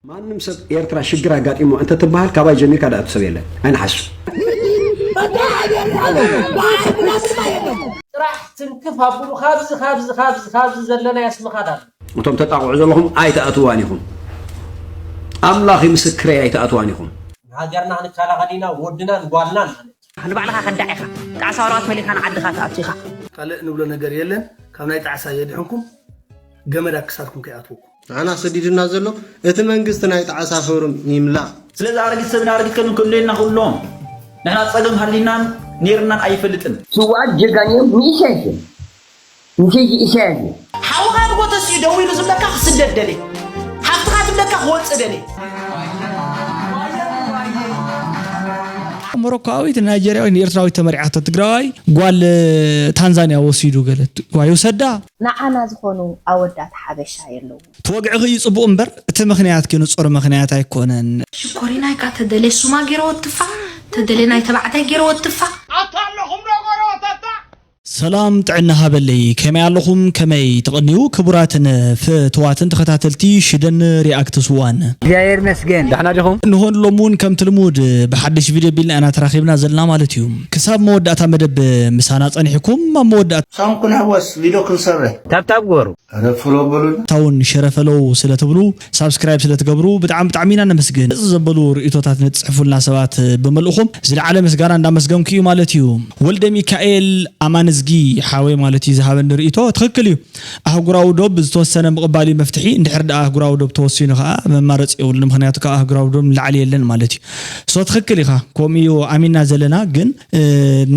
ማንም ሰብ ኤርትራ ሽግር ኣጋጢምዋ እንተትበሃል ካባይ ጀሚርካ ድኣቱ ሰብ የለን ኣይንሓሱ ጥራሕ ትንክፍ ኣብሉ ካብዚ ካብዚ ካብዚ ካብዚ ዘለና ያስምኻድ ኣሎ እቶም ተጣቕዑ ዘለኹም ኣይትኣትዋን ኢኹም ኣምላኺ ምስክረይ ኣይትኣትዋን ኢኹም ንሃገርና ክንከላኸል ኢና ወድናን ጓልናን ማለት ንባዕልኻ ከዳዕ ኢኻ ጣዕሳ ወረቐት መሊእካ ንዓድኻ ትኣቱ ኢኻ ካልእ ንብሎ ነገር የለን ካብ ናይ ጣዕሳ የድሕንኩም ገመድ ኣብ ክሳድኩም ከይኣትወኩም ንዓና ሰዲዱና ዘሎ እቲ መንግስቲ ናይ ጣዕሳ ክብሪ ይምላእ ስለዚ ኣረጊት ሰብን ኣረጊት ከልብን ከድልየና ከሎ ንሕና ጸገም ሃሊናን ኔርናን ኣይፈልጥን። ስውኣት ጀጋኑ እዮም ንኢሰያስ እዮም ንኬጂ ኢሰያስ እዩ። ሓውኻ ንጎ ተሲኡ ደው ኢሉ ዝብለካ ክስደድ ደልየ ሓፍትኻ ትብለካ ክወጽእ ደልየ። ሞሮኮኣዊት ንናይጀርያዊት ንኤርትራዊት ተመርዒያቶ ትግራዋይ ጓል ታንዛንያ ወሲዱ ገለ ዋይ ይውሰዳ። ንዓና ዝኾኑ ኣወዳት ሓበሻ የለዉን። ተወግዕኺ እዩ ጽቡቅ እምበር እቲ ምኽንያትኪ ንጹር ምኽንያት ኣይኮነን። ሽኮሪና ኢካ ተደሌ ሱማ ጌረ ወትፋ ተደሌ ናይ ተባዕታይ ጌረ ወትፋ። ኣታ ኣለኹም ዶ ጎረበተታ ሰላም ጥዕና ሃበለይ ከመይ ኣለኹም ከመይ ትቅንዩ ክቡራትን ፍትዋትን ተኸታተልቲ ሽደን ሪኣክትስ ዋን። እግዚኣብሔር ይመስገን ዳሕና ዲኹም? እንሆ ንሎሚ ውን ከምቲ ልሙድ ብሓድሽ ቪድዮ ኣቢልና ኢና ተራኺብና ዘለና ማለት እዩ። ክሳብ መወዳእታ መደብ ምሳና ጸኒሕኩም ኣብ መወዳእታ። ሳም ኩንሕወስ ቪድዮ ክንሰርሕ። ታብታብ ግበሩ። ኣረ ፎሎ በሉና። እታ ውን ሸረ ፈሎው ስለ ትብሉ ሳብስክራይብ ስለ ትገብሩ ብጣዕሚ ብጣዕሚ ኢና ነመስግን። መጽጽ ዘበሉ ርእይቶታት ንትጽሕፉልና ሰባት ብመልእኹም ዝለዓለ ምስጋና እንዳመስገንኩ እዩ ማለት እዩ። ወልደሚካኤል ኣማንዝጊ ሓወይ ማለት እዩ ዝሃበኒ ርእይቶ ትኽክል እዩ። ኣህጉራዊ ዶብ ዝተወሰነ ምቕባል እዩ መፍትሒ። እንድሕር ድኣ ኣህጉራዊ ዶብ ተወሲኑ ከኣ መማረጺ የብሉን ምኽንያቱ ካብ ኣህጉራዊ ዶብ ንላዕሊ የለን ማለት እዩ። ሶ ትኽክል ኢኻ ኮምኡ እዩ ኣሚንና ዘለና ግን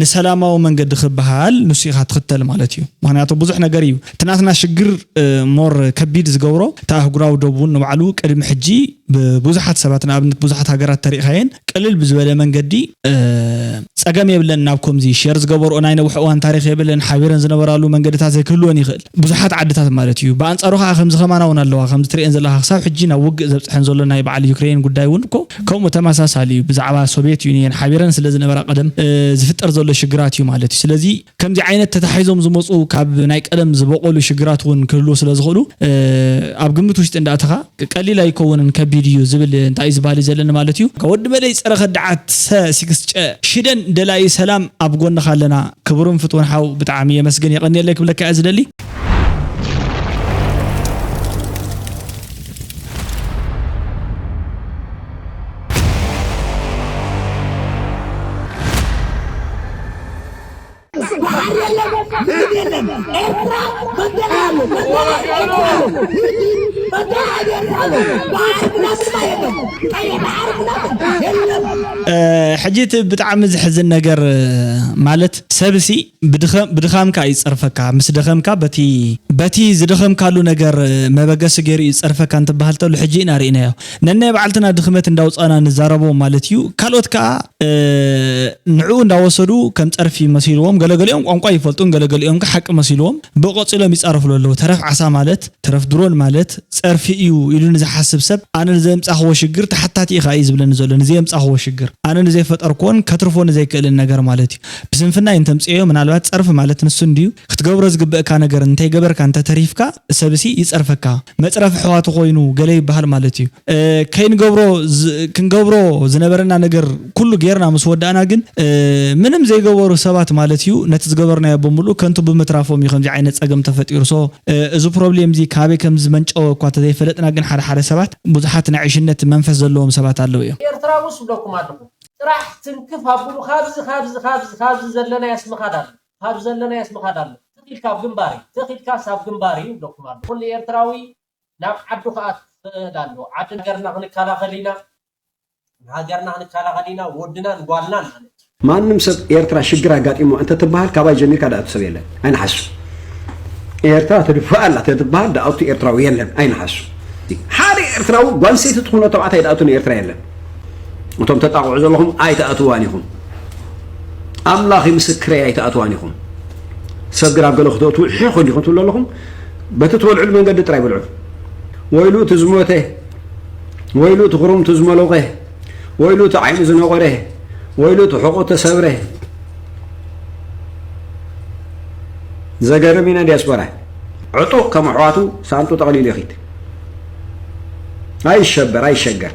ንሰላማዊ መንገዲ ክበሃል ንሱ ኢኻ ትኽተል ማለት እዩ ምክንያቱ ብዙሕ ነገር እዩ እቲ ናትና ሽግር ሞር ከቢድ ዝገብሮ እቲ ኣህጉራዊ ዶብ እውን ንባዕሉ ቅድሚ ሕጂ ብብዙሓት ሰባት ንኣብነት ብዙሓት ሃገራት ተሪእኻየን ቅልል ብዝበለ መንገዲ ጸገም የብለን ናብ ኮምዚ ሼር ዝገበርኦ ናይ ነውሕ እዋን ታሪኽ የብለን ሓቢረን ዝነበራሉ መንገድታት ዘይክህልወን ይኽእል ብዙሓት ዓድታት ማለት እዩ። ብኣንጻሩ ከኣ ከምዚ ከማና ውን ኣለዋ። ከምዚ ትርእየን ዘለኻ ክሳብ ሕጂ ናብ ውግእ ዘብጽሐን ዘሎ ናይ በዓል ዩክረይን ጉዳይ ውን እኮ ከምኡ ተመሳሳሊ እዩ። ብዛዕባ ሶቭየት ዩንየን ሓቢረን ስለ ዝነበራ ቀደም ዝፍጠር ዘሎ ሽግራት እዩ ማለት እዩ። ስለዚ ከምዚ ዓይነት ተታሒዞም ዝመጹ ካብ ናይ ቀደም ዝበቖሉ ሽግራት ውን ክህልዉ ስለ ዝኽእሉ ኣብ ግምት ውሽጢ እንዳእተኻ ቀሊል ኣይከውንን ከቢድ እዩ ዝብል እንታይ እዩ ዝባህሊ ዘለኒ ማለት እዩ። ወዲ መደይ ጸረ ከዳዓት ሰ ሲክስ ጨ ሽደን ደላዪ ሰላም ኣብ ጎንኻ ኣለና ክቡርን ፍትውን ሓው ብጣዓሚ የመስግን የቀንየለይ ክብለካ እየ ዝደሊ። ሕጂ እቲ ብጣዕሚ ዝሕዝን ነገር ማለት ሰብ ሲ ብድኻምካ እዩ ዝጸርፈካ ምስ ደኸምካ በቲ በቲ ዝደኸምካሉ ነገር መበገሲ ገይሩ እዩ ዝጸርፈካ እንትበሃል ተሎ ሕጂ ኢና ርኢናዮ። ነናይ ባዕልትና ድኽመት እንዳውጻና ንዛረቦ ማለት ኢዩ ካልኦት ከኣ ንዕኡ እንዳወሰዱ ከም ጸርፊ መሲልዎም ገለገሊኦም ቋንቋ ይፈልጡን ገለገሊኦም ከኣ ሓቂ መሲልዎም ብኡ ቀጺሎም ይጻረፍሉ ኣለዉ ተረፍ ዓሳ ማለት ተረፍ ድሮን ማለት ጸርፊ ኢዩ ኢሉ ንዝሓስብ ሰብ ኣነ ንዘየምጻኽዎ ሽግር ተሓታቲ ኢኻ ኢዩ ዝብለኒ ዘሎ ንዘየምጻኽዎ ሽግር ኣነ ንዘይፈጠርክዎን ከትርፎ ንዘይክእልን ነገር ማለት ኢዩ ብስንፍና ኢንተምጽኤዮ ምናልባት ጸርፊ ማለት ንሱ እንድዩ ክትገብሮ ዝግበእካ ነገር እንተይገበርካ እንተተሪፍካ ሰብሲ ይጸርፈካ መጽረፊ ኣሕዋቱ ኮይኑ ገለ ይብሃል ማለት እዩ ከይንገብሮ ክንገብሮ ዝነበረና ነገር ኩሉ ጌርና ምስ ወዳእና ግን ምንም ዘይገበሩ ሰባት ማለት እዩ ነቲ ዝገበርናዮ ብምሉኡ ከንቱ ብምትራፎም እዩ ከምዚ ዓይነት ጸገም ተፈጢሩ so እዚ ፕሮብሌም እዚ ካበይ ከም ዝመንጨወ እኳ ተዘይፈለጥና ግን ሓደ ሓደ ሰባት ብዙሓት ናይ ዕሽነት መንፈስ ዘለዎም ሰባት ኣለው እዮም። ኤርትራዊ ስ ብለኩም ኣለኹ። ጥራሕ ትንክፍ ኣብሉ ካብዚ ካብዚ ካብዚ ካብዚ ዘለናዮስ ምኻድ ኣሎ ካብ ዘለናዮስ ምኻድ ኣሎ ትኽ ኢልካ ኣብ ግንባር እዩ ትኽ ኢልካስ ኣብ ግንባር እዩ ይብለኩም ኣሎ ኩሉ ኤርትራዊ ናብ ዓዱ ክኣቱ ክኽእል ኣለዎ ዓዲ ሃገርና ክንከላኸል ኢና ንሃገርና ክንከላኸል ኢና ወድናን ጓልናን ማለት እዩ። ማንም ሰብ ኤርትራ ሽግር ኣጋጢምዋ እንተትብሃል ካባይ ጀሚርካ ድኣቱ ሰብ የለን ኣይንሓሱ ኤርትራ ትድፋእ ኣላ ተትብሃል ድኣቱ ኤርትራዊ የለን ኣይንሓሱ ሓደ ኤርትራዊ ጓንሰይቲ ትኹኖ ተባዕታይ ድኣቱ ንኤርትራ የለን እቶም ተጣቕዑ ዘለኹም ኣይትኣትዋን ኢኹም ኣምላኽ ምስክረይ ኣይትኣትዋን ኢኹም ሰብ ግን ኣብ ገለ ክትወትው ሕኹ እንዲኹም ትብሉ ኣለኹም በቲ ትበልዕሉ መንገዲ ጥራይ በልዑ ወይሉ እቲ ዝሞተ ወይሉ እቲ ክሩምቱ ዝመለቐ ወይሉ እቲ ዓይኑ ዝነቆረ ወይሉ እቲ ሕቑ ተሰብረ ዘገርም ኢና ዲያስፖራ ዕጡቕ ከም ኣሕዋቱ ሳንጡ ጠቕሊሉ ይኽድ ኣይሸበር ኣይሸገር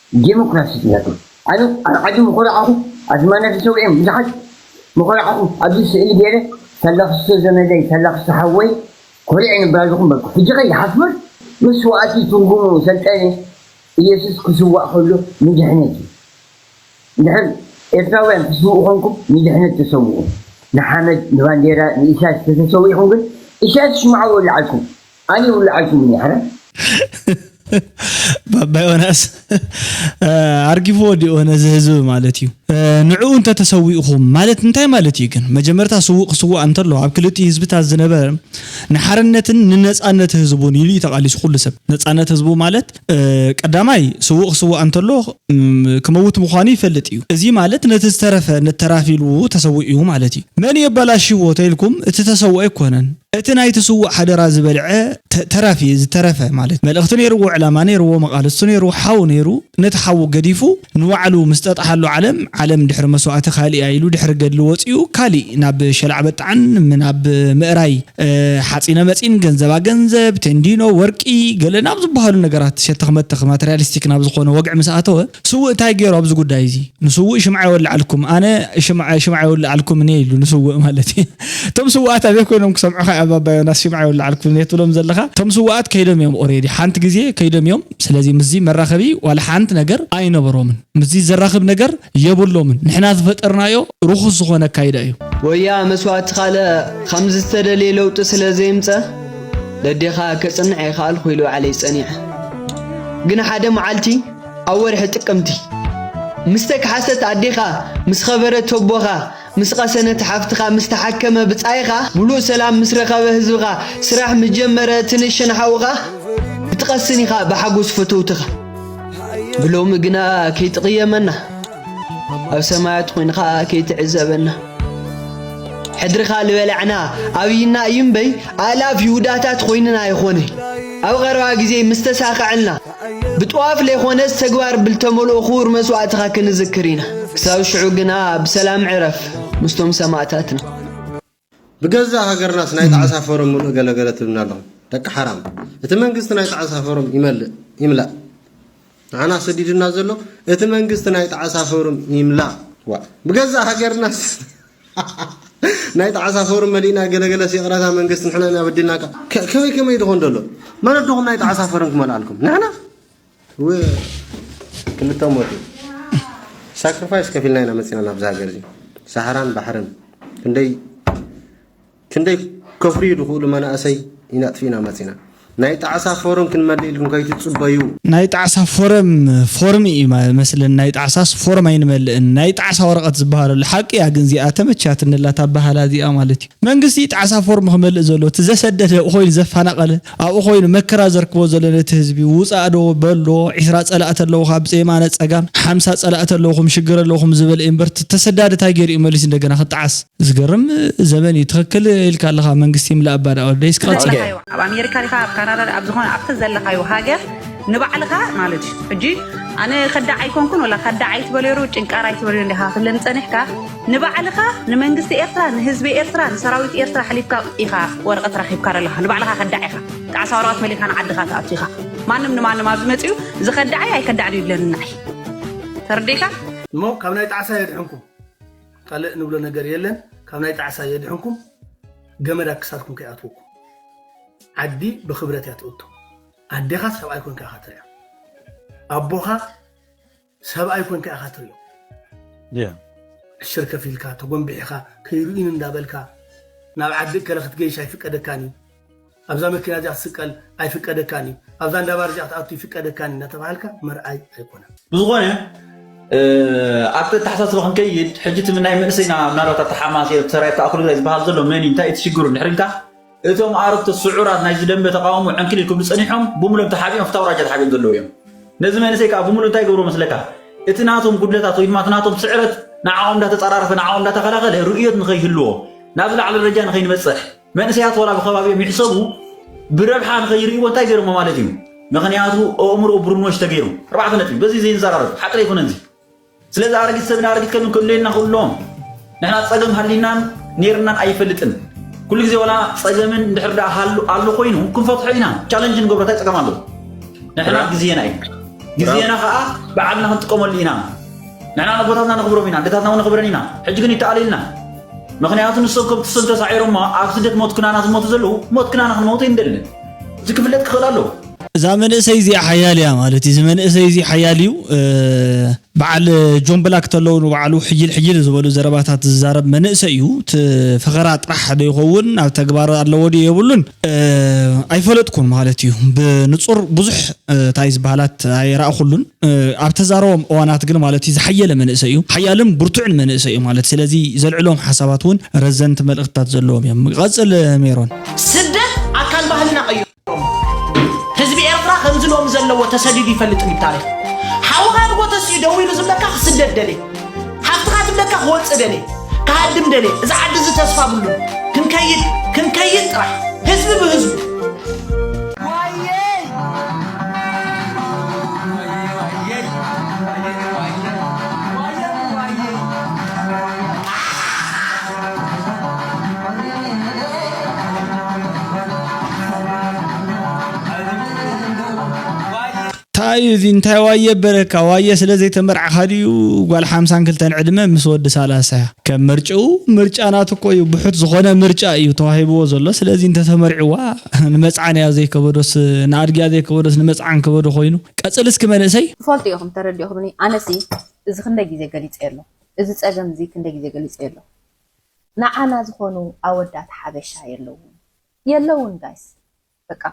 ዴሞክራሲ ኢላቶ ኣነ ኣብ ዓዲ ምኹርዓኹ ኣዝማነ ተሰዊኦም ብዙሓት ምኹርዓኹ ኣብዚ ስእሊ ጌረ ተላኽስቶ ዘመደይ ተላኽስቶ ሓወይ ኮሪዐ ንብራዝኹም በልኩ ሕጂኸ ይሓፍር መስዋእቲ ትርጉሙ ሰልጠነ ኢየሱስ ክስዋእ ከሎ ንድሕነት እዩ እንድሕር ኤርትራውያን ትስውኡ ኮንኩም ንድሕነት ተሰውኡ ንሓመድ ንባንዴራ ንኢሳያስ ተተሰዊእኹም ግን ኢሳያስ ሽምዓ ወሊዓልኩም ኣነ ይውልዓልኪ ውን እየ ሓዳር ባባ ዮናስ ኣርጊፍዎ ዲኦ ነዚ ህዝቢ ማለት እዩ ንዕኡ እንተ ተሰዊእኹም ማለት እንታይ ማለት እዩ ግን መጀመርታ ስዉእ ክስዋእ እንተሎ ኣብ ክልቲኡ ህዝብታት ዝነበረ ንሓርነትን ንነጻነት ህዝቡን ኢሉ እዩ ተቓሊሱ ኩሉ ሰብ ነጻነት ህዝቡ ማለት ቀዳማይ፣ ስዉእ ክስዋእ እንተሎ ክመውት ምዃኑ ይፈልጥ እዩ። እዚ ማለት ነቲ ዝተረፈ ነቲ ተራፊ ኢሉ ተሰዊኡ እዩ ማለት እዩ። መን እዩ ኣባላሺዎ ተኢልኩም እቲ ተሰውኦ ኣይኮነን እቲ ናይቲ ስዉእ ሓደራ ዝበልዐ ተራፊ እዩ ዝተረፈ ማለት መልእኽቲ ነይርዎ ዕላማ ነይርዎ መቓልስቱ ነይሩ ሓው ነይሩ ነቲ ሓዉ ገዲፉ ንባዕሉ ምስ ጠጥሓሉ ዓለም ዓለም ድሕሪ መስዋእቲ ካሊእ እያ ኢሉ ድሕሪ ገድሊ ወጺኡ ካሊእ ናብ ሸላዕበጣዕን ናብ ምእራይ ሓፂነ መፂን፣ ገንዘባ ገንዘብ፣ ቴንዲኖ፣ ወርቂ፣ ገለ ናብ ዝበሃሉ ነገራት ሸተኽ መተኽ ማተርያሊስቲክ ናብ ዝኾነ ወግዒ ምስ ኣተወ፣ ስውእ እንታይ ገይሩ ኣብዚ ጉዳይ እዚ? ንስውእ ሽምዓ የወልዓልኩም፣ ኣነ ሽምዓ ሽምዓ የውልዓልኩም እኔ ኢሉ ንስውእ ማለት እዩ። እቶም ስውኣት ኣበይ ኮይኖም ክሰምዑኻ እዮም ኣባ ዮናስ ሽምዓ የውልዓልኩም እኔ ትብሎም ዘለኻ? እቶም ስውኣት ከይዶም እዮም ኦሬዲ ሓንቲ ግዜ ከይዶም እዮም። ስለዚ ምስዚ መራኸቢ ዋላ ሓንቲ ነገር ኣይነበሮምን። ምስዚ ዘራኽብ ነገር የብሎምን። ንሕና ዝፈጠርናዮ ርኹስ ዝኾነ ኣካይዳ እዩ። ወያ መስዋእቲ ካልእ ኸምዚ ዝተደልየ ለውጢ ስለ ዘየምጸ ደዴኻ ከጽንዕ ኣይኸኣልኩ ኢሉ ዓለይ ጸኒዐ። ግን ሓደ መዓልቲ ኣብ ወርሒ ጥቅምቲ። ምስ ተከሓሰት ኣዴኻ ምስ ኸበረት ተቦኻ ምስ ቐሰነት ሓፍትኻ ምስ ተሓከመ ብጻይኻ ሙሉእ ሰላም ምስ ረኸበ ህዝብኻ ስራሕ ምስ ጀመረ እቲ ንእሸን ሓውኻ ክትቐስን ኢኻ ብሓጎስ ፈተውትኻ። ብሎሚ ግና ከይትቕየመና ኣብ ሰማያት ኾይንኻ ከይትዕዘበና ሕድርኻ ልበላዕና ኣብይና እዩ እምበይ ኣእላፍ ይሁዳታት ኾይንና ኣይኾነይ ኣብ ቐረባ ግዜ ምስ ተሳኸዐልና ብጥዋፍ ለይኮነስ ተግባር ብልተመልኦ ክቡር መስዋእትኻ ክንዝክር ኢና። ክሳብ ሽዑ ግና ብሰላም ዕረፍ ምስቶም ሰማእታትና። ብገዛእ ሃገርናስ ናይ ጣዕሳ ፎረም ምሉእ ገለ ገለ ትብልና ኣለኹም ደቂ ሓራም እቲ መንግስቲ ናይ ጣዕሳ ፎረም ይመልእ ይምላእ ንዓና ሰዲዱና ዘሎ እቲ መንግስቲ ናይ ጣዕሳ ፎረም ይምላእ ዋእ ብገዛእ ሃገርናስ ናይ ጣዕሳ ፎርም መሊእና ገለገለስ ይቕረታ መንግስቲ ንሕና ኢና በዲልናካ ከመይ ከመይ ድኾን ደሎ ማለት ዶኹም ናይ ጣዕሳ ፎርም ክመልኣልኩም ንሕና ክልተ ሞት ሳክሪፋይስ ከፊልና ኢና መፂና ናብዚ ሃገር እዚ ሳሕራን ባሕርን ክንደይ ክንደይ ከፍርዩ ድኽእሉ መናእሰይ ኢና ኣጥፊእና መጺና። ናይ ጣዕሳ ፎረም ክንመልእ ኢልኩም ከይትጽበዩ። ናይ ጣዕሳ ፎረም ፎርም ኢዩ መስለኒ ናይ ጣዕሳስ ፎርም ኣይንመልእን ናይ ጣዕሳ ወረቀት ዝባሃል ኣሎ ሓቂ ኢያ ግን እዚኣ ተመችያትኒ ኣላ እታ ኣባሃህላ እዚኣ ማለት ኢዩ መንግስቲ ኢዩ ጣዕሳ ፎርም ክመልእ ዘለዎ እቲ ዘሰደደ ኣብኡ ኮይኑ ዘፋናቀለ ኣብኡ ኮይኑ መከራ ዘርክቦ ዘሎ ነቲ ህዝቢ ውጻእ ዶ በሎ ዒስራ ጸላእቲ ኣለውኻ ብየማነ ጸጋም ሓምሳ ጸላእቲ ኣለውኹም ሽግር ኣለውኹም ዝበለ ኢዩ እምበር እቲ ተሰዳዲ ታይ ጌሩ ኢዩ መሊሱ እንደገና ክጣዓስ ዝገርም ዘበን እዩ ትክክል ኢልካ ኣለካ መንግስቲ ይምላ እባ ዳኣ ወደይ እስካ ቀጽል ዘለኻዮ ኣብ ኣሜሪካ ዲኻ ኣብ ካናዳ ኣብ ዝኾነ ኣብቲ ዘለኻዮ ሃገር ንባዕልኻ ማለት እዩ ሕጂ ኣነ ከዳዕ ኣይኮንኩን ወላ ከዳዕ ኣይትበልዮሩ ጭንቃር ኣይትበልዮ እንዲኻ ክብለኒ ጸኒሕካ ንባዕልኻ ንመንግስቲ ኤርትራ ንህዝቢ ኤርትራ ንሰራዊት ኤርትራ ሓሊፍካ ኢኻ ወረቐት ረኺብካ ዘለኻ ንባዕልኻ ከዳዕ ኢኻ ጣዕሳ ወረቐት መሊእካ ንዓድኻ ትኣቱ ኢኻ ማንም ንማንም ኣብዚ መጺኡ ዝኸዳዓይ ኣይከዳዕን ይብለኒ ንዓይ ተረዲእካ እሞ ካብ ናይ ጣዕሳ የድሕንኩም ካልእ ንብሎ ነገር የለን ካብ ናይ ጣዕሳ የድሕንኩም ገመድ ኣብ ክሳድኩም ከይኣትወኩም ዓዲ ብክብረት እያ ትእቶ ኣዴኻ ሰብኣይ ኮንካ ኢኻ ትሪኣ ኣቦኻ ሰብኣይ ኮንካ ኢኻ ትሪኦ ዕሽር ከፊልካ ተጎንቢሒኻ ከይርኢን እንዳበልካ ናብ ዓዲ እከለ ክትገይሽ ኣይፍቀደካን እዩ ኣብዛ መኪና እዚኣ ክትስቀል ኣይፍቀደካን እዩ፣ ኣብዛ እንዳ ባር እዚኣ ክትኣቱ ይፍቀደካን እዩ እናተባሃልካ መርኣይ ኣይኮነን። ብዝኾነ ኣብቲ ኣተሓሳስባ ክንከይድ ሕጂ እቲ ናይ መንእሰይና ምናልባት ኣብቲ ሓማስ እየ ሰራዊት ተኣኽሉ ግዳይ ዝበሃል ዘሎ መን እዩ እንታይ እዩ እቲ ሽግሩ እንድሕር ኢልካ እቶም ኣረግቶት ስዑራት ናይዚ ደንበ ተቃውሞ ዕንክሊል ክብሉ ጸኒሖም ብምሉኦም ተሓቢኦም ፍታው ራጃ ተሓቢኦም ዘለዉ እዮም ነዚ መንእሰይ ከዓ ብምሉ እንታይ ገብሮ መስለካ እቲ ናቶም ጉድለታት ወይ ድማ እቲ ናቶም ስዕረት ንዓኦም እንዳተጸራረፈ ንዓኦም እንዳተኸላኸለ ርእዮት ንኸይህልዎ ናብ ዝለዓለ ደረጃ ንኸይንበጽሕ መንእሰያት ወላ ብከባቢኦም ይሕሰቡ ብረብሓ ንኸይርእይዎ እንታይ ገይሮሞ ማለት እዩ ምክንያቱ ኣእምሮ ብሩኖሽ ተገይሩ ኣርባዕተ ነጥቢ በዚ ዘይንዘራረብ ሓጥሪ ኣይኮነን እዚ ስለዚ ኣረጊት ሰብን ኣረጊት ከብን ክእለየና ክእሎም ንሕና ፀገም ሃሊናን ነይርናን ኣይፈልጥን ኩሉ ግዜ ወላ ፀገምን እንድሕር ደኣ ሃሉ ኣሎ ኮይኑ ክንፈትሖ ኢና ቻለንጅ ንገብሮ እንታይ ፀገም ኣሎ ንሕና ግዜና እዩ ግዜና ከዓ በዓልና ክንጥቀመሉ ኢና ንሕና ነቦታትና ነኽብሮም ኢና ደታትና እውን ነኽብረን ኢና ሕጂ ግን ይተኣለየልና ምኽንያቱ ንሶም ከምቲ ሶም ተሳዒሮማ ኣብዚ ደትሞት ክናና ዝሞቱ ዘለዉ ሞት ክናና ክንመውት ኣይንደልን። እዚ ክፍለጥ ክኽእል ኣለዎ። እዛ መንእሰይ እዚኣ ሓያል እያ ማለት እዩ እዚ መንእሰይ እዚ ሓያል እዩ በዓል ጆን ብላክ ተለው ንባዕሉ ሕይል ሕይል ዝበሉ ዘረባታት ዝዛረብ መንእሰይ እዩ ፈኸራ ጥራሕ ዶ ይኸውን ኣብ ተግባር ኣለዎ ድዩ የብሉን ኣይፈለጥኩን ማለት እዩ ብንጹር ብዙሕ ታይ ዝበሃላት ኣይራእኹሉን ኣብ ተዛረቦም እዋናት ግን ማለት እዩ ዝሓየለ መንእሰይ እዩ ሓያልን ብርቱዕን መንእሰይ እዩ ማለት ስለዚ ዘልዕሎም ሓሳባት እውን ረዘንቲ መልእኽትታት ዘለዎም እዮም ቀፅል ሜሮን ስደት ኣካል ባህልና ቀይሮሞ ህዝቢ ኤርትራ ከምዚ ሎሚ ዘለዎ ተሰዲዱ ይፈልጥን እዩ ብታሪኽ ሓውኻ ንጎተስ እዩ ደዊሉ ዝብለካ ክስደድ ደልየ ሃብትኻ ትብለካ ክወፅእ ደልየ ክሃድም ደልየ እዚ ዓዲ እዚ ተስፋ ብሉ ክንከይድ ክንከይድ ጥራሕ ህዝቢ ብህዝቡ ታይ እዩ እዚ እንታይ ዋየ በለካ ዋየ ስለ ዘይተመርዓኻ ድዩ ጓል ሓምሳን ክልተን ዕድመ ምስ ወዲ ሳላሳ ከም ምርጭኡ ምርጫ ናቱ እኮ እዩ ብሑት ዝኾነ ምርጫ እዩ ተዋሂብዎ ዘሎ ስለዚ እንተተመርዕዋ ንመጽዓን እያ ዘይከበዶስ ንኣድጊያ ዘይከበዶስ ንመጽዓን ከበዶ ኮይኑ ቀጽል እስኪ መንእሰይ ትፈልጡ ኢኹም ተረዲእኹምኒ ኣነሲ እዚ ክንደይ ግዜ ገሊጸዮ ኣለኹ እዚ ጸገም እዚ ክንደይ ግዜ ገሊጸዮ ኣለኹ ንዓና ዝኾኑ ኣወዳት ሓበሻ የለዉን የለዉን ጋይስ በቃ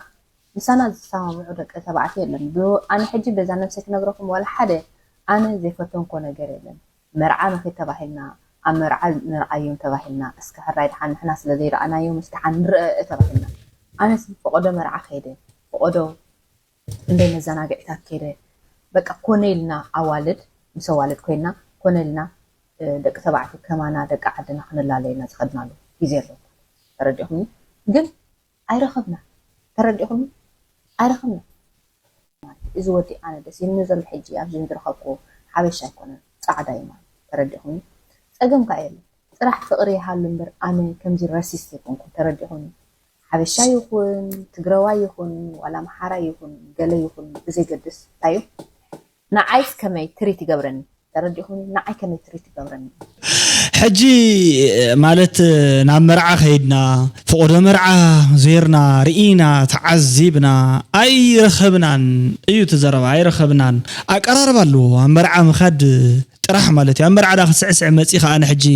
ምሳና ዝሰማምዑ ደቂ ተባዕትዮ የለን ብ ኣነ ሕጂ በዛ ነብሰይ ክነግረኩም ዋላ ሓደ ኣነ ዘይፈተንክዎ ነገር የለን መርዓ ንኪድ ተባሂልና ኣብ መርዓ ንርኣዮም ተባሂልና እስከ ሕራይ ድሓን ንሕና ስለ ዘይረኣናዮምስ ድሓን ንርኣእ ተባሂልና ኣነስ ብ ፈቆዶ መርዓ ከይደ ፈቆዶ ክንደይ መዘናግዒታት ከይደ በቃ ኮነ ኢልና ኣዋልድ ምስ ኣዋልድ ኮይና ኮነ ኢልና ደቂ ተባዕትዮ ከማና ደቂ ዓድና ክንላለየና ዝኸድናሉ ግዜ ኣሎ ተረዲእኩምኒ ግን ኣይረኸብናን ተረዲእኹምኒ ኣይረኸብናን ማለት እዩ እዚ ወዲ ኣነ ደስ ኢሉኒ ዘሎ ሕጂ ኣብዚ ዝረኸብክዎ ሓበሻ ኣይኮነን ጻዕዳ እዩ ማለት እዩ ተረዲእኹምኒ ጸገም ከኣ የለን ጥራሕ ፍቅሪ ይሃሉ እምበር ኣነ ከምዚ ረሲስት ኣይኮንኩን ተረዲእኹምኒ ሓበሻ ይኹን ትግረዋይ ይኹን ዋላ ኣምሓራይ ይኹን ገለ ይኹን ብዘይገድስ እንታይ እዩ ንዓይስ ከመይ ትሪት ይገብረኒ ተረዲእኹምኒ ንዓይ ከመይ ትሪት ይገብረኒ እዩ። ሕጂ ማለት ናብ መርዓ ከይድና ፍቆዶ መርዓ ዜርና ርኢና ተዓዚብና ኣይረኸብናን እዩ እቲ ዘረባ ኣይረኸብናን ኣቀራርባ ኣለዎ ኣብ መርዓ ምኻድ ጥራሕ ማለት እዩ ኣብ መርዓ ድኣ ክትስዕስዒ መጺኺ ኣነ ሕጂ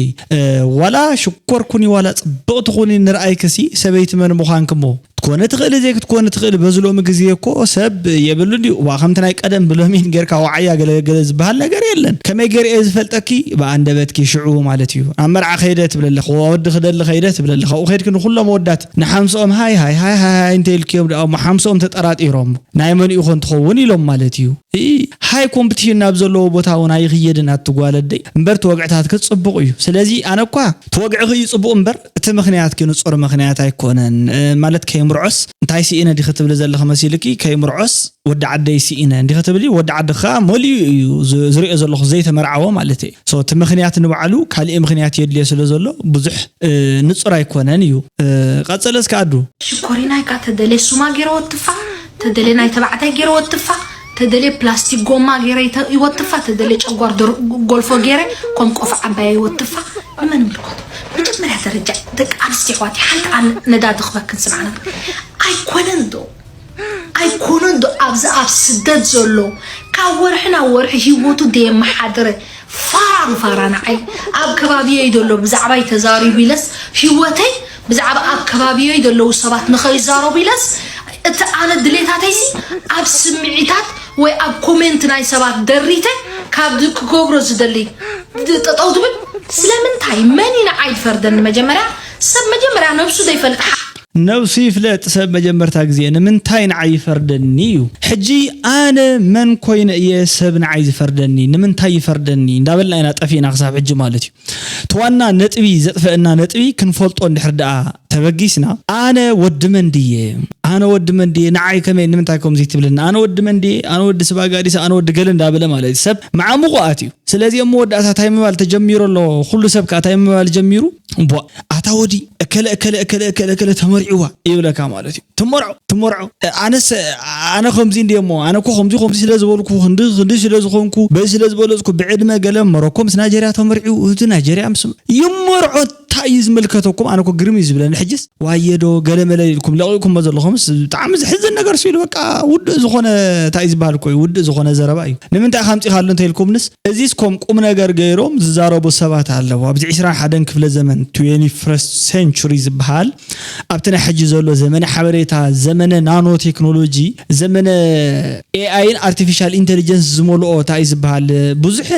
ዋላ ሽኮር ኩኒ ዋላ ጽብቕቲ ኩኒ ንርኣይክሲ ሰበይቲ መን ምዃንኪ እሞ ክትኮኒ ትኽእሊ ዘይክትኮኒ ትኽእሊ በዚ ሎሚ ግዜ እኮ ሰብ የብሉን ድዩ እባ ከምቲ ናይ ቀደም ብሎሚን ጌርካ ወዓያ ገለ ገለ ዝበሃል ነገር የለን ከመይ ጌረ እየ ዝፈልጠኪ ብኣንደበትኪ ሽዑ ማለት እዩ ኣብ መርዓ ከይደ ትብለለኺ ወዲ ክደሊ ከይደ ትብለለኺ ኣብኡ ከይድኪ ንኹሎም ኣወዳት ንሓምስኦም ሃይ ሃይ ሃይ ሃይ ሃይ እንተኢልክዮም ደኣ እሞ ሓምስኦም ተጠራጢሮም ናይ መን'ዩ ኮን ትኸውን ኢሎም ማለት እዩ። እይ ሃይ ኮምፕትሽን ናብ ዘለዎ ቦታ ውን ኣይኽየድን ኣቲ ጓል ኣደይ እምበር ትወግዕታትኪ ጽቡቕ እዩ ስለዚ ኣነ እኳ ትወግዕኺ እዩ ጽቡቕ እምበር እቲ ምኽንያትኪ ንጹር ምኽንያት ኣይኮነን ማለት ከይምርዖስ እንታይ ስኢነ ዲኺ ትብሊ ዘለኺ መሲልኪ ከይምርዖስ ወዲ ዓደይ ስኢነ እንዲኺ ትብሊ ወዲ ዓድኺ ከኣ መሊኡ እዩ ዝርእዮ ዘለኹ ዘይተመርዓወ ማለተይ ሶ እቲ ምኽንያት ንባዕሉ ካሊእ ምኽንያት የድልዮ ስለ ዘሎ ብዙሕ ንጹር ኣይኮነን እዩ ቀጽል እስከ ኣዱ። ሽኮሪናይ ከኣ ተደልየ ሱማ ጌረ ወትፋ ተደልየ ናይ ተባዕታይ ጌረ ወትፋ ተደልየ ፕላስቲክ ጎማ ጌረ ይወትፋ ተደልየ ጨጓር ደርቁ ጎልፎ ጌረ ኮም ቆፍ ዓባየ ይወትፋ ንመን ይምልከቶ መጀመርያ ደረጃ ደቂ ኣንስትዮ ኣሕዋተይ ሓንቲ ኣነ ነዳዲ ክበክን ስምዓ ነበር ኣይኮነን ዶ ኣይኮነን ዶ ኣብዚ ኣብ ስደት ዘሎ ካብ ወርሒ ናብ ወርሒ ሂወቱ ደየመሓድረ ፋራ ንፋራ ንዓይ ኣብ ከባቢየይ ዘሎ ብዛዕባይ ተዛሪቡ ኢለስ ሂወተይ ብዛዕባ ኣብ ከባቢየይ ዘለዉ ሰባት ንኸይዛረቡ ኢለስ እቲ ኣነ ድሌታተይሲ ኣብ ስምዒታት ወይ ኣብ ኮሜንት ናይ ሰባት ደሪተ ካብ ክገብሮ ዝደሊ ጠጠው ትብል ስለምንታይ መን እዩ ንዓይ ዝፈርደኒ መጀመርያ ሰብ መጀመርያ ነብሱ ዘይፈልጥ ነብሱ ይፍለጥ ሰብ መጀመርታ ግዜ ንምንታይ ንዓይ ይፈርደኒ እዩ ሕጂ ኣነ መን ኮይነ እየ ሰብ ንዓይ ዝፈርደኒ ንምንታይ ይፈርደኒ እንዳበልና ኢና ጠፊእና ክሳብ ሕጂ ማለት እዩ እቲ ዋና ነጥቢ ዘጥፈእና ነጥቢ ክንፈልጦ እንድሕር ደኣ ተበጊስና ኣነ ወዲ መን ድየ ኣነ ወዲ መን ድየ ንዓይ ከመይ ንምንታይ ከምዚ ትብለኒ ኣነ ወዲ መን ድየ ኣነ ወዲ ስባጋዲስ ኣነ ወዲ ገለ እንዳበለ ማለት እዩ ሰብ መዓሙቁ ኣትዩ ስለዚ ኣብ መወዳእታ ታይ ምባል ተጀሚሩ ኣሎ ኩሉ ሰብ ከኣ ታይ ምባል ጀሚሩ እምቧእ ኣታ ወዲ እከለ እከለ እከለ እከለ እከለ ተመርዕዋ ይብለካ ማለት እዩ ትመርዖ ትመርዖ ኣነስ ኣነ ከምዚ እንዲየ እሞ ኣነ እኮ ከምዚ ከምዚ ስለ ዝበልኩ ክንዲ ክንዲ ስለ ዝኾንኩ በዚ ስለ ዝበለፅኩ ብዕድመ ገለ መሮኮ ምስ ናይጀርያ ተመርዕዩ እቲ ናይጀርያ ምስ ይመርዖ እንታይ እዩ ዝምልከተኩም ኣነ እኮ ግርም እዩ ዝብለኒ ሕጅስ ዋየ ዶ ገለ መለ ኢልኩም ለቂቅኩሞ ዘለኹምስ ብጣዕሚ ዝሕዝን ነገር ስኢሉ በቃ ውዱእ ዝኾነ እንታይ እዩ ዝበሃል እኮ እዩ ውዱእ ዝኾነ ዘረባ እዩ ንምንታይ ኢኻ ኣምጺኻሉ እንተኢልኩምንስ እዚስ ኮም ቁም ነገር ገይሮም ዝዛረቡ ሰባት ኣለዉ ኣብዚ ዕስራን ሓደን ክፍለ ዘመን ትዌኒ ፍረስት ሴንቹሪ ዝበሃል ኣብቲ ናይ ሕጂ ዘሎ ዘመነ ሓበሬታ ዘመነ ናኖ ቴክኖሎጂ ዘመነ ኤኣይን ኣርቲፊሻል ኢንተሊጀንስ ዝመልኦ ታእዩ ዝበሃል ብዙሕ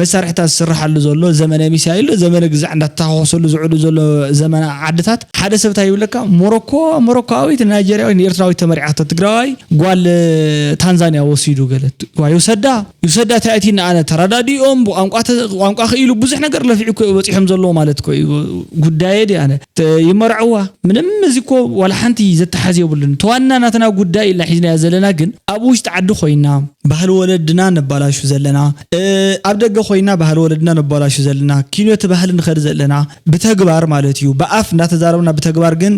መሳርሒታት ዝስረሓሉ ዘሎ ዘመነ ሚሳይል ዶ ዘመነ ግዛዕ እንዳተታኾሰሉ ዝውዕሉ ዘሎ ዘመነ ዓድታት ሓደ ሰብ ታይ ይብለካ ሞሮኮ ሞሮኮኣዊት ንናይጀርያዊት ንኤርትራዊት ተመርዒዓቶ ትግራዋይ ጓል ታንዛንያ ወሲዱ ገለ ዋይ ይውሰዳ ይውሰዳ ታይ ኣቲኒ ኣነ ተራዳዲኦም ብቋንቋ ቋንቋ ክኢሉ ብዙሕ ነገር ለፊዑ እኮ እዩ በፂሖም ዘለዎ ማለት እኮ እዩ ጉዳየ ድዩ ኣነ ይመርዐዋ ምንም እዚ እኮ ዋላ ሓንቲ ዘተሓዝ የብሉን እቲ ዋና ናትና ጉዳይ ኢልና ሒዝናዮ ዘለና ግን ኣብ ውሽጢ ዓዲ ኮይና ባህሊ ወለድና ነባላሹ ዘለና ኣብ ደገ ኮይና ባህሊ ወለድና ነባላሹ ዘለና ኪንዮ እቲ ባህሊ ንከድ ዘለና ብተግባር ማለት እዩ ብኣፍ እንዳተዛረብና ብተግባር ግን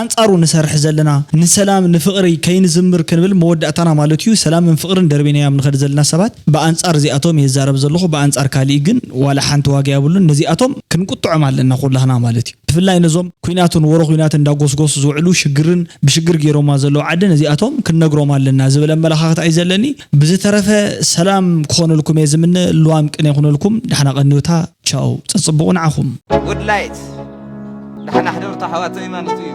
ኣንጻሩ ንሰርሕ ዘለና ንሰላም ንፍቅሪ ከይንዝምር ክንብል መወዳእታና ማለት እዩ ሰላምን ፍቅርን ደርቢናዮም ንከድ ዘለና ሰባት ብኣንጻር እዚኣቶም እየ ዝዛረብ ዘለኩ ብኣንጻር ካሊእ ግን ዋላ ሓንቲ ዋጋ የብሉን ነዚኣቶም ክንቁጥዖም ኣለና ኩላህና ማለት እዩ ብፍላይ ነዞም ኩናትን ወረ ኩናትን እንዳጎስጎሱ ዝውዕሉ ሽግርን ብሽግር ገይሮማ ዘለዉ ዓዲ ነዚኣቶም ክንነግሮም ኣለና ዝብል ኣመላካክታ እዩ ዘለኒ ብዝተረፈ ሰላም ክኾነልኩም እየ ዝምነ ልዋም ቅነ ይኹነልኩም ዳሕና ቀንዮታ ቻው ጸጽቡቑ ንዓኹም። Woodlight ዳሕና ሕደሩታ ኣሕዋተይ ማለቱ እዩ።